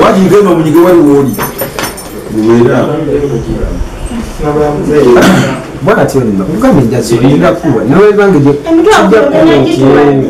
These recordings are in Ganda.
wajigenda omunyige wali woli bwatyo nno kugamba enjazi olina kuwa nawe bange kijja kuba nti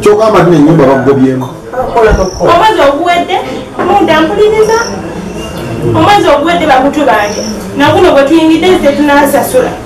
kyogamba tino enyumba bakugobyemu omwezi oguwedde munda mpuliriza omwezi oguwedde bakutu bange naguno gwetuyingidde zetunasasula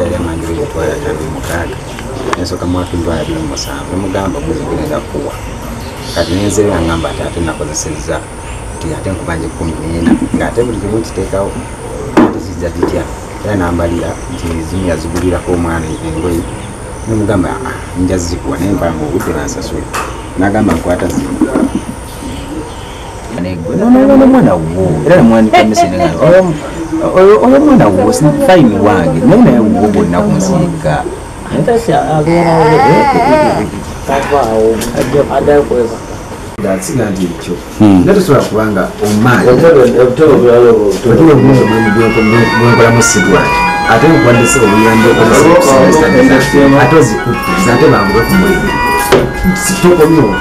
yali amanyi bwegutwala atabi mukaaga nensoka mwatu ndwala biri musanvu nemugamba guzigirenda kuwa kati nenzeera ngamba ati ate nakozesezza nti ate nkubanja ekumi neena ngaate buli kimu nkiteekawo ate zijja zitya era nambalira nti zimu yazigulirako omwana engoyi nemugamba ah, nja zikuwa naye mpanga obudde bansasule nagamba nkwata zimu nomwana wo era namwandikamisiaa oyo mwana wo fayini wange naye naye wo bonna kunsiika asiga nti ekyo hmm. nga tosobola kubanga omaaniobulamu sigwa ate nkwandise obuyambi ate ozikutte ate banguwe kumulimu tokomyewo